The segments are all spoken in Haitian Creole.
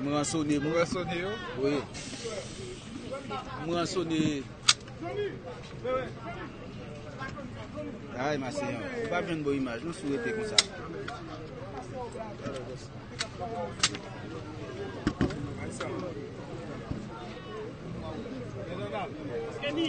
M ransone m ransone yo wi M ransone Ay maseyan ou pa jwenn bon imaj non si w rete konsa Kenny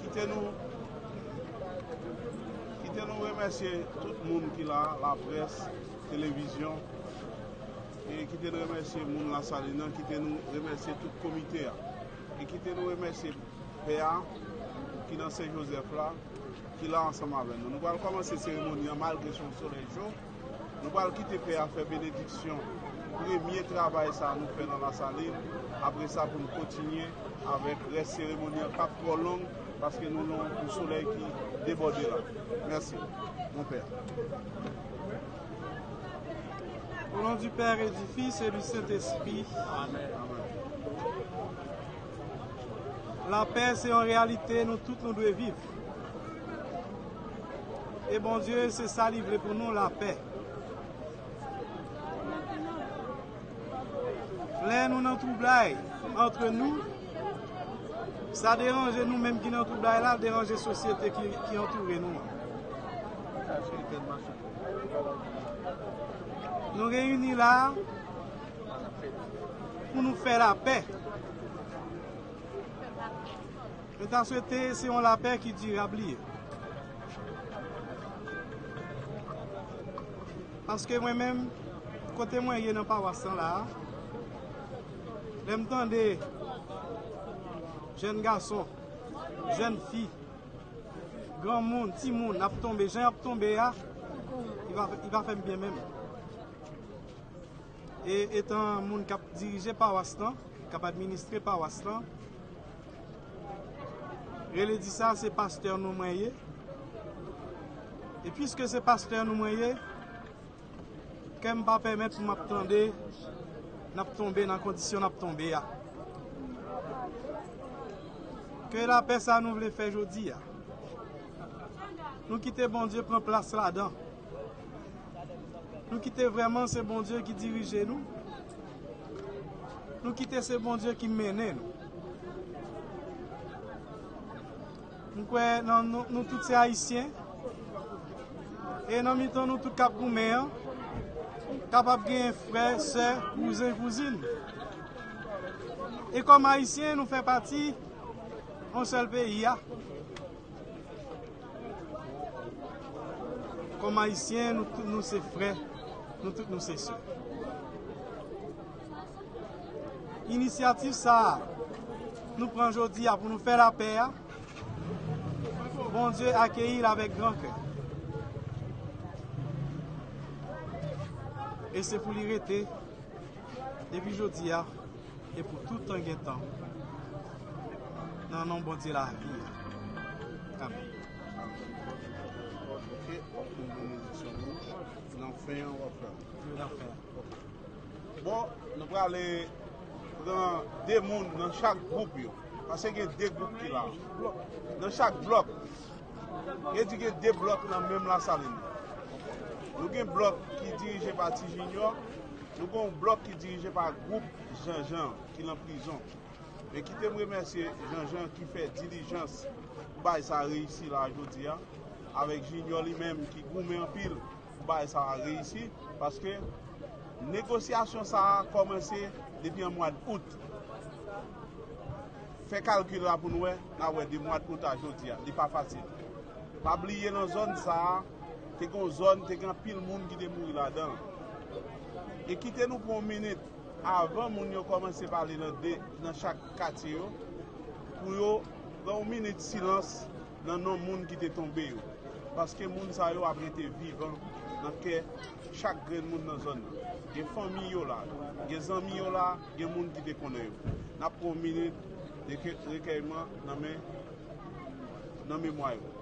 Kite nou Kite nou remèsye tout moun ki la, la près, televizyon, e kite nou remèsye moun la Salin nan, kite nou remèsye tout komite a, e kite nou remèsye pè a ki nan Sen Jozèf la, ki la ansanm avè nou. Nou pral kòmanse seremoni an malgre son solèy cho. Nou pral kite pè a fè benediksyon premye travay sa nou fè nan Lasalin, apre sa pou nou kontinye avèk rès seremoni an kap twò long paske nou nan yon solèy ki debòde la. Mèsi Mon Père. Au nom du Père et du Fils et du Saint Esprit. Lapè se yon reyalite nou tout nou dwe viv. E Bondye se sa li vle pou nou lapè. Lè nou nan twoublay antre nou, sa deranje nou menm ki nan twoublay la, deranje sosyete ki antoure nou an. Nou reyini la pou nou fè lapè. Mwen ta swete se yon lapè ki dirab li ye. Paske mwen menm, kote mwen ye nan pawas lan la a, lè m tande jèn gason, jèn fi, granmoun, timoun ap tonbe jan y ap tonbe a, li pa fè m byen menm. E etan moun k ap dirije pawas lan, k ap administre pawas lan, Rele di sa se pastè nou mwen ye e piske se pastè nou mwen ye kè m pa pèmèt pou m ap tande n ap tonbe nan kondisyon n ap tonbe a. Ke lapè sa nou vle fè jodi a nou kite Bondye pran plas ladan. Nou kite vrèman se Bondye ki dirije nou, nou kite se Bondye ki mennen nou. M kwè nan nou tout se Ayisyen, e nan mitan nou tout k ap goumen an, kapab genyen frè, sè, kouzen, kouzin. E kòm Ayisyen, nou fè pati yon sèl peyi a. Kòm Ayisyen, nou tout nou se frè, nou tout nou se sè. Inisyativ sa a nou pran jodi a pou nou fè lapè a, Bondye akeyi l avèk gran kè. E se pou li rete depi jodi a. E pou tout tan gen tan. Nan non Bondye lavi a. Amen. Bon, nou prale pran de moun nan chak group yo. Ase gen de group ki la. Nan chak blok. Gen di gen de blok nan menm la salin. Nou gen blok ki dirije pa ti jinyon. Nou gen yon blòk ki dirije pa gwoup Jean Jean ki lan prizon. Men kite m remèsye Jean Jean ki fè dilijans pou bagay sa reyisi la a jodi a, avèk Junior li menm ki goumen anpil pou bagay sa a reyisi, paske negosyasyon sa a kòmanse depi an mwad Out. Fè kalkil la pou nou wè, n ap wè de mwad Out a jodi a, li pa fasil. Pa bliye lan zòn sa a. Te gen yon zòn, te gen anpil moun ki te mouri ladan l. E kite nou pran yon minit, avan moun yo kòmanse pale nan de, nan chak katye yo, pou yo pran yon minit silans nan non moun ki te tonbe yo. Paske moun sa yo ap rete vivan nan kè chak grenn moun nan zòn nan. Gen fanmi yo la, gen zanmi yo la, gen moun ki te konnen yo. N ap pran yon minit de rekèyman nan men, nan memwa yo.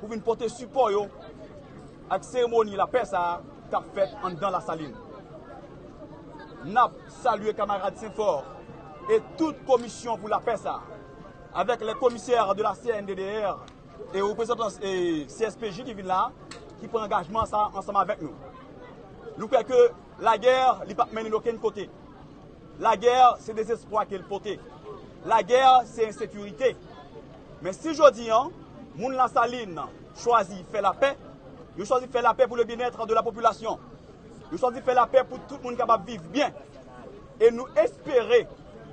pou vin pote sipò yo ak seremoni lapè sa a k ap fèt anndan Lasalin. N ap salye kamarad Senfòr e tout komisyon pou lapè sa a, avèk lè komisè de la CNDDR e reprezantan CSPJ ki vin la a, ki pran angajman sa a ansanm avèk nou. Nou kwè ke lagè li p ap mennen okenn kote. Lagè se dezespwa ke l pote. Lagè se ensekirite. Men si jodi an, moun Lasalin chwazi fè lapè, yo chwazi fè lapè pou le byenètre de la popilasyon, yo chwazi fè lapè pou tout moun kapab viv byen. E nou espere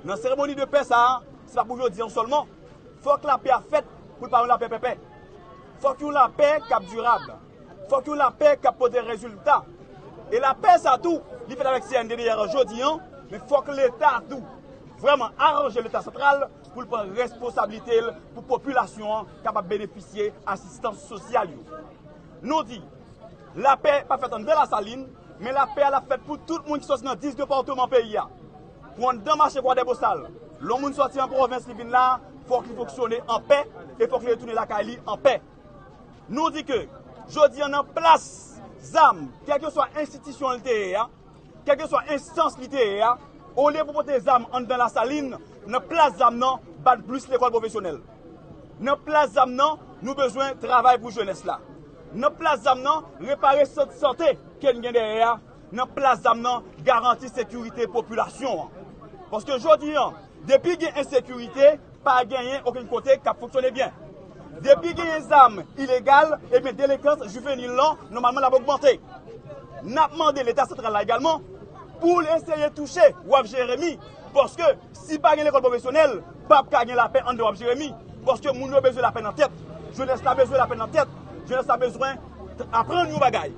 nan seremoni de pè sa a, se pa pou jodi an sèlman, fòk lapè a fèt pou l pa yon lapè pèpè. Fòk yon lapè k ap dirab. Fòk yon lapè kap pote rezilta. E lapè sa tou li fèt avèk CNDDR jodi an, men fòk leta tou vrèman aranje leta santral pou l pran responsablite l pou popilasyon an kapab benefisye asistans sosyal yo. Nou di, lapè pa fèt anndan Lasalin, men lapè a l ap fèt pou tout moun ki sòti nan 10 depatman peyi a. Pou anndan mache Kwadèbosal, lè yon moun sòti an pwovens li vin la, fòk li fonksyone an pè e fòk li retounen lakay li an pè. Nou di ke jodi an nan plas zam, kèlkeswa enstitisyon li te ye a, kèlkeswa enstans li te ye a, olye pou pote zam anndan Lasalin, nan plas zam nan, bat blis lekòl pwofesyonèl. Nan plas zam nan, nou bezwen travay pou jenès la. Nan plas zam nan, repare sant sante ke n gen dèyè a. nan plas zam nan garanti sekirite popilasyon an. Paske jodi an, depi gen ensekirite, pa genyen okenn kote k ap fonksyone byen. Depi genyen zam ilegal, ebyen delenkans jivenil lan nòmalman l ap ogmante. N ap mande Leta santral la egalman pou l eseye touche Waf Jeremi paske. Si pa gen lekòl pwofesyonèl, pap ka gen lapè anndan wap Jeremi, paske moun yo bezwen lapè nan tèt, jenès la bezwen lapè nan tèt, jenès la bezwen aprann yon bagay.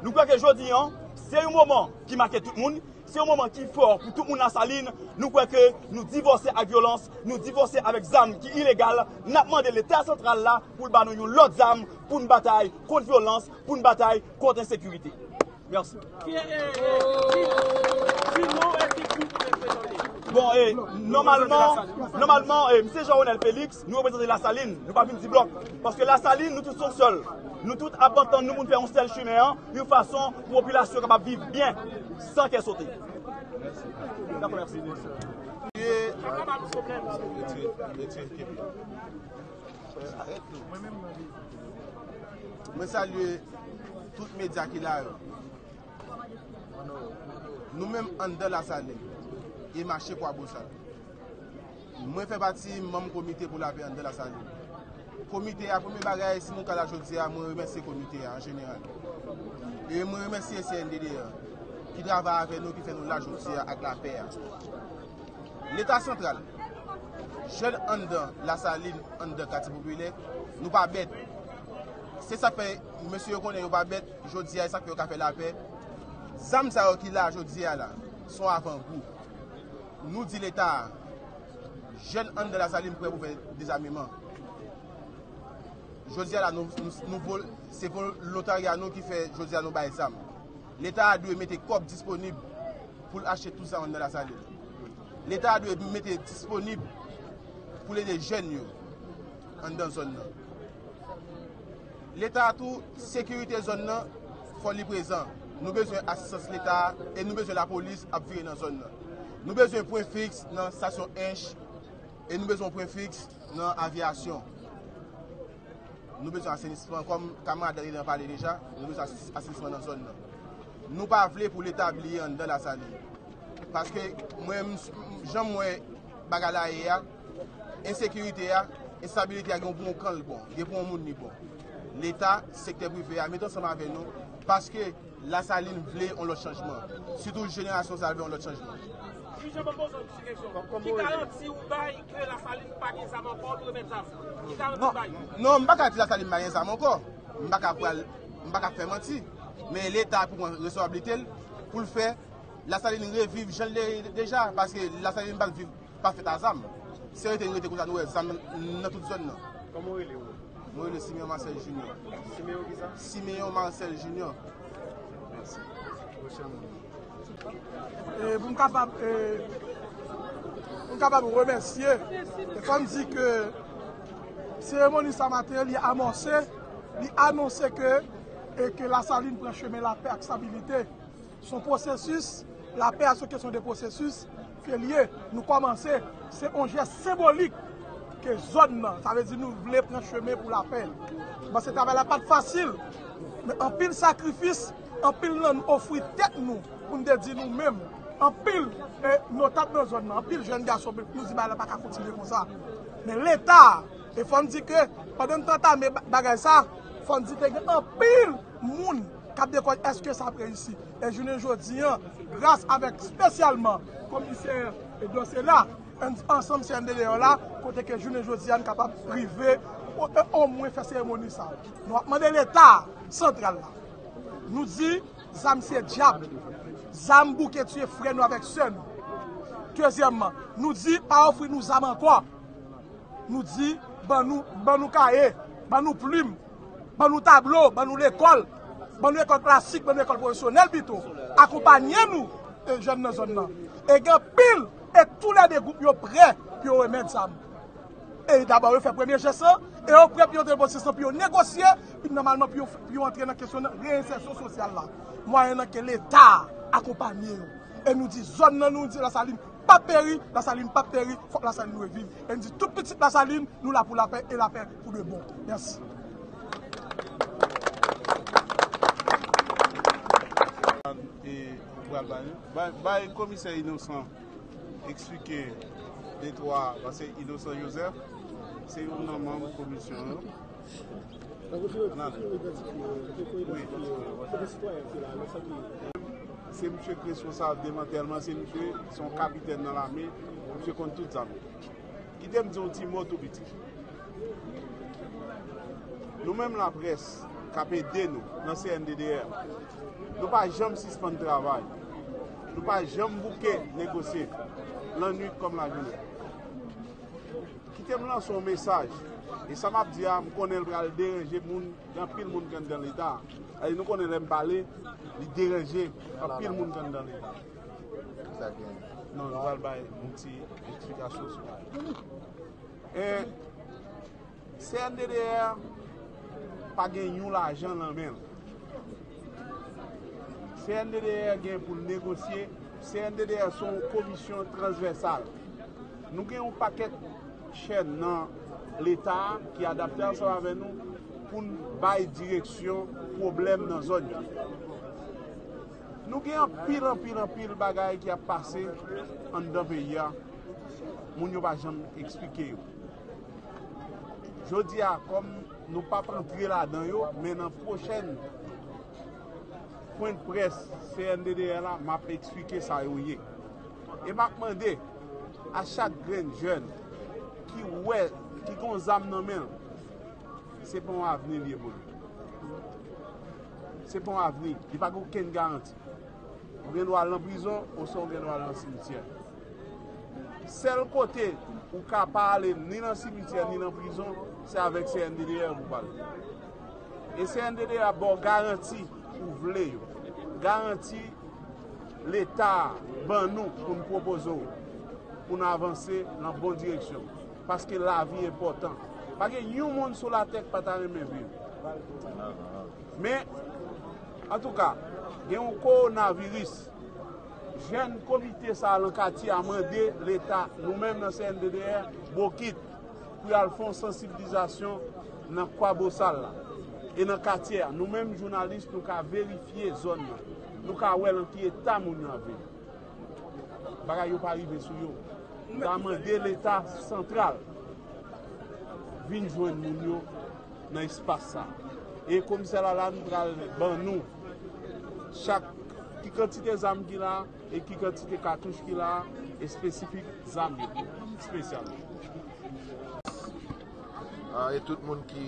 Nou kwè ke jodi an, se yon moman ki make tout moun, se yon moman ki fò pou tout moun Lasalin, nou kwè ke nou divòse ak vyolans, nou divòse avèk zam ki ilegal, nap mande leta santral la pou l ba nou yon lòt zam pou n batay kont vyolans, pou n batay kont ensekirite. Merci. Bon e, nòmalman, nòmalman e, Msye Jean Ronel Felix, nou reprezante la Saline, nou pa vin ti blòk. Paske la Saline, nou tout son sèl. Nou tout ap antann nou pou nou fè yon sèl chimen an, yon fason pou popilasyon kapab viv byen, san kè sote. Dako, mèsi. Mwen salye tout medya ki la yo. Nou menm anndan lasalin e mache kwa bosa. Mwen fè pati manm komite pou lape anndan lasalin. Komite a premye bagay si nou ka la jodi a mwen remèsye komite a an jeneral. E mwen remèsye CNDD ki travay avè nou ki fè nou la jodi a ak lape a. Leta santral, jèn anndan Lasalin, anndan katye popilè, nou pa bèt. Se sa k fè mesye yo konnen yo pa bèt jodi a, e sa k fè yo ka fè lapè. Zam sa yo ki la jodi a la, s on avangou. Nou di Leta a, jèn anndan Lasalin prè pou fè dezameman. Jodi a la, se volontarya nou ki fè jodi a nou bay zam. Leta a dwe mete kòb disponib pou l achte tou sa yon nan Lasalin. Leta a dwe mete disponib pou l ede jèn yo anndan zòn nan. Leta a tou, sekirite zòn nan fò li prezan. Nou bezwen asistans Leta a e nou bezwen lapolis ap vire nan zòn nan. Nou bezwen pwen fiks nan stasyon Ench e nou bezwen yon pwen fiks nan Aviyasyon. Nou bezwen asenisman, kòm kamarad Dany lan pale deja, nou bezwen asenisman nan zòn nan. Nou pa vle pou leta bliye anndan Lasalin. Paske mwen m, jan m wè bagay la ye a, ensekirite a, enstabilite a gen pou yon kan l bon, gen pou yon moun li bon. Leta, sektè prive a, mete ansanm avè nou, paske Lasalin vle yon lòt chanjman. Sitou jenerasyon sa a vle yon lòt chanjman. Miche banm poze yon ti kesyon. Ki garanti ou bay ke Lasalin pa gen zam ankò li remèt zam? Ki garanti ou bay? Non, m pa ka di Lasalin pa gen zam ankò. M pa ka pral, m pa ka fè manti. Men leta pou pran resoyablite l pou l fè Lasalin reviv jan l te ye deja. Paske Lasalin pa viv, pa fèt a zam. Si l rete, li rete konsa nou wè zam nan tout zòn nan. Kòman ou rele ou menm? Mwen rele Simeon Marcel Junior. Simeon kisa? Simeon Marcel Junior. Mèsi. Ou se moun. Pou m kapab remèsye, e fò m di ke seremoni sa maten li amòse, li anonse ke Lasalin pran chemen lapè ak stabilite. Se yon pwosesis, lapè a se yon kesyon de pwosesis ke li ye. Nou kòmanse, se yon jès senbolik ke zòn nan, sa vle di nou vle pran chemen pou lapè. Mwen panse travay la pa t fasil, men anpil sakrifis. Anpil nan n ofri tèt nou pou n te di nou menm anpil e nou tap nan zòn nan anpil jèn gason nou di bagay la paka kontinye konsa men leta e fò n di ke pandan n te antame bagay sa fò n di te gen anpil moun kap de kòd eske sa ap reyisi e jounen jodi an gras avèk spesyalman komisè Edon se la n ansanm cndd an la kote ke jounen jodi an n kapab rive o mwen fè seremoni sa nou ap mande leta santral la. Nou di zam se dyab. Zam bouke tiye frè nou avèk sè nou. Dezyèmman, nou di pa ofri nou zam ankò. Nou di ban nou, ban nou kaye, ban nou plim, ban nou tablo, ban nou lekòl, ban nou ekòl klasik, ban nou ekòl pwofesyonèl pito, akonpanye nou jèn nan zòn nan. E gen anpil e tou lè 2 gwoup yo prè pou yo remèt zam. E dabò yo fè premye jès lan, e yo pre pou yo depoze sa pou yo negosye, pi nòmalman pou yo antre nan kesyon reyensèsyon sosyal la, mwayennan ke Leta akonpanye yo. E nou di zòn nan, nou di Lasalin pap peri, Lasalin pap peri, fòk Lasalin reviv. E nou di tout pitit Lasalin, nou la pou lapè, e lapè pou de bon. Mèsi. Eksplike de twa pase Inosan Joseph se youn nan manm komisyon an. Se misye ki responsab demantèlman, se misye se yon kapitèn nan lame, misye konn tout zam. Kite m di w yon ti mo tou piti. Nou menm laprès k ap ede nou nan CNDDR, nou pa janm sispann travay. Nou pa janm bouke negosye, lannuit kòm lajounen. Kite m lanse yon mesaj, e sa m ap di a, m konnen l pral deranje moun, gen anpil moun ki anndan Leta a. Sa di nou konnen lè m pale, li deranje anpil moun ki anndan Leta a. Ki sa ki anndan? Non, nou pral bay yon ti eksplikasyon sou bagay la. Cnddr pa gen yon lajan lan men l. Cnddr gen pou l negosye. Cnddr se yon komisyon transvèsal. Nou gen yon pakèt chèn nan Leta a ki adapte ansanm avè nou pou n bay direksyon pwoblèm nan zòn yo. Nou gen anpil, anpil, anpil bagay ki ap pase anndan peyi a, moun yo pa janm esplike yo. Jodi a kòm nou pap antre ladan yo men nan pwochèn pwen près CNDDR la map eksplike sa yo ye. E map mande a chak grenn jèn ki wè ki gon zam nan menl se pa yon avni li ye pou li. Se pa yon avni, li pa gen okenn garanti. Ou gen dwa al nan prizon oswa ou gen dwa al nan simityè. Sèl kote ou ka pa ale ni nan simityè ni nan prizon se avèk CNDDR pou pale. E CNDDR ap ba w garanti ou vle yo. Garanti Leta a ban nou pou n pwopoze w pou n avanse nan bon direksyon. Paske lavi enpòtan. Pa gen yon moun sou latè k pa ta renmen viv. Men, antouka, gen yon kowonaviris. Jèn komite sa lan katye a mande leta, nou menm nan CNDDR, bokit pou y al fè yon sansiblizasyon nan Kwabosal la e nan katye a. Nou menm jounalis nou ka verifye zòn nan, nou ka wè lan ki eta moun yo ap viv. Bagay yo pa rive sou yo. Nou ta mande leta santral vin jwenn moun yo nan espas sa. E komisè Lalanne pral ban nou. Chak, Ki kantite zam ki la e ki kantite katouch ki la a espesifik zam yo, special. E tout moun ki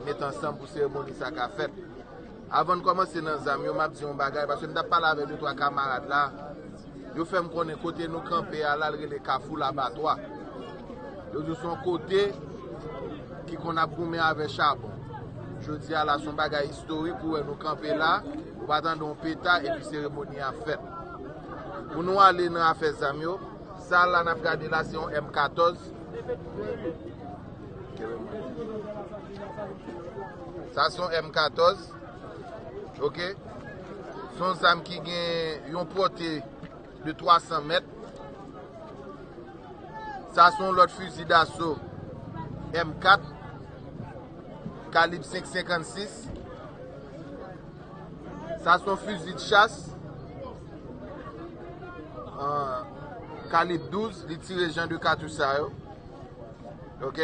met ansanm pou seremoni sa ka fèt. Avan n kòmanse nan zam yo, m ap di yon bagay, paske m t ap pale avèk de twa kamarad la. Yo fè m konnen kote nou kanpe a la l rele Kafou Labatwa. Yo di son kote ki konn ap goumen avè chabon. Jodi a la son bagay istorik ou wè nou kanpe la, ou pa tande yon peta epi seremoni a fèt. Pou nou ale nan afè zam yo, sa la n ap gade la se yon M 14. Sa se yon M 14. Ok son zam ki gen yon pote de 300 mèt sa son lòt fizi daso M4 kalib 556 sa son fizi de chas kalib 12 li tire jan de katou sa yo ok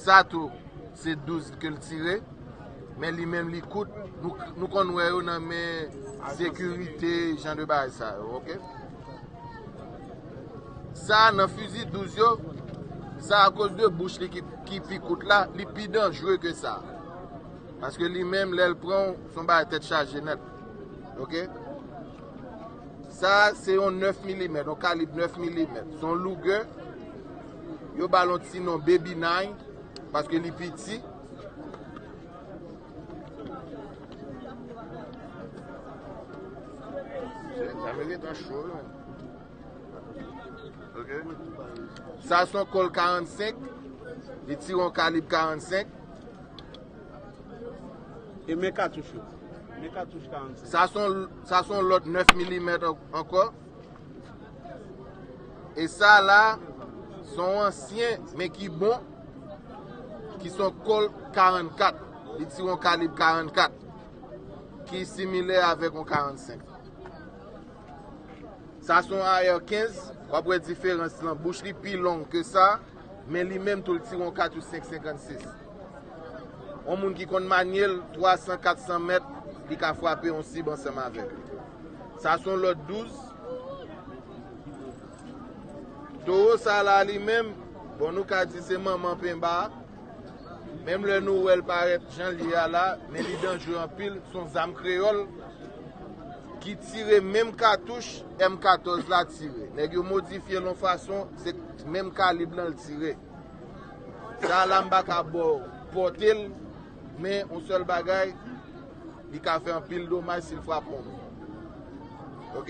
sa tou se 12 ke li tire Men li menm li kout, nou konn wè yo nan men sekirite jan de bagay sa yo ok. Sa a nan fizi 12 yo, sa a koz de bouch li ki pi kout la, li pi danjre ke sa. Paske li menm lèl pran w, son bagay tèt chaje nèt. Ok. Sa a se yon 9 milimèt, yon kalib 9 milimèt. Son louge, yo balon ti non baby 9, paske li piti. Sa son kol 45 Li tire yon kalib 45 E men katouch yo Men katouch 45 Sa son lot 9 mm anko E sa la Son ansyen men ki bon ki s on Colt 44, li tire yon kalib 44, ki similè avèk yon 45. Sa s on AR 15, w ap wè diferans lan, bouch li pi long ke sa, men li menm tou li tire yon katouch 5, 56. On moun ki konn manye l, 300, 400 mèt, li ka frape yon sib ansanm avèk li. Sa s on Lod 12. Toro sa la li menm, bon nou ka di se manman penba a, menm lè nou wèl parèt janl ye a la, men li danjre anpil, son zam kreyòl ki tire menm katouch M 14 la tire, nèg yo modifyel yon fason, se menm kalib lan l tire. Sa la m pa ka baw pòtel, men yon sèl bagay, li ka fè anpil domaj sil frape yon moun. Ok.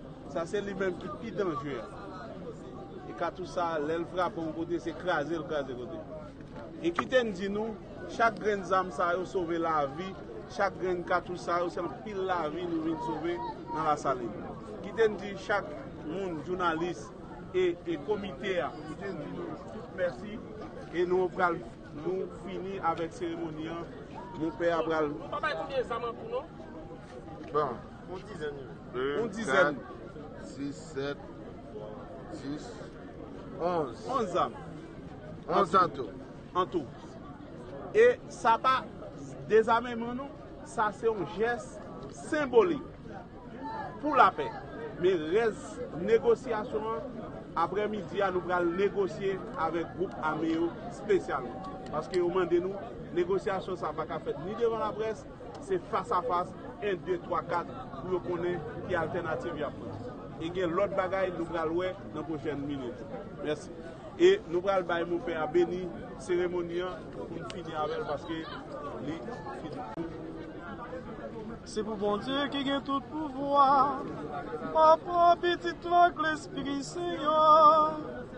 Sa se li menm ki pi danje a. E katouch sa a, lè l frape yon kote, se kraze l kraze kote. E kite m di nou, chak grenn zam sa yo sove lavi, chak grenn katouch sa yo se anpil lavi nou vin sove nan Lasalin. Kite n di chak moun, jounalis e komite a, kite n di nou tout mèsi e nou pral nou fini avèk seremoni an. Monpè a pral. Ou pa bay konbyen zam an tou non. Bon. Yon dizèn wi. Yon dizèn. 2, 4, 6, 7, 10, 11. 11 zam. 11 an tou. An tou. E sa pa dezameman non. Sa se yon jès senbolik pou lapè. Men rès negosyasyon an, aprè midi a nou pral negosye avèk gwoup ame yo spesyalman. Paske yo mande nou, negosyasyon sa pa ka fèt ni devan laprès, Se fas a fas, 1, 2, 3, 4, pou yo konnen ki altènativ y ap pran. E gen lòt bagay nou pral wè nan pwochèn minit yo. Mèsi. E nou pral bay monpè a beni seremoni an pou n fini avè l paske li fini. Se pou Bondye ki gen tout pouvwa, Papa, Pitit la ak Lespri Sen an.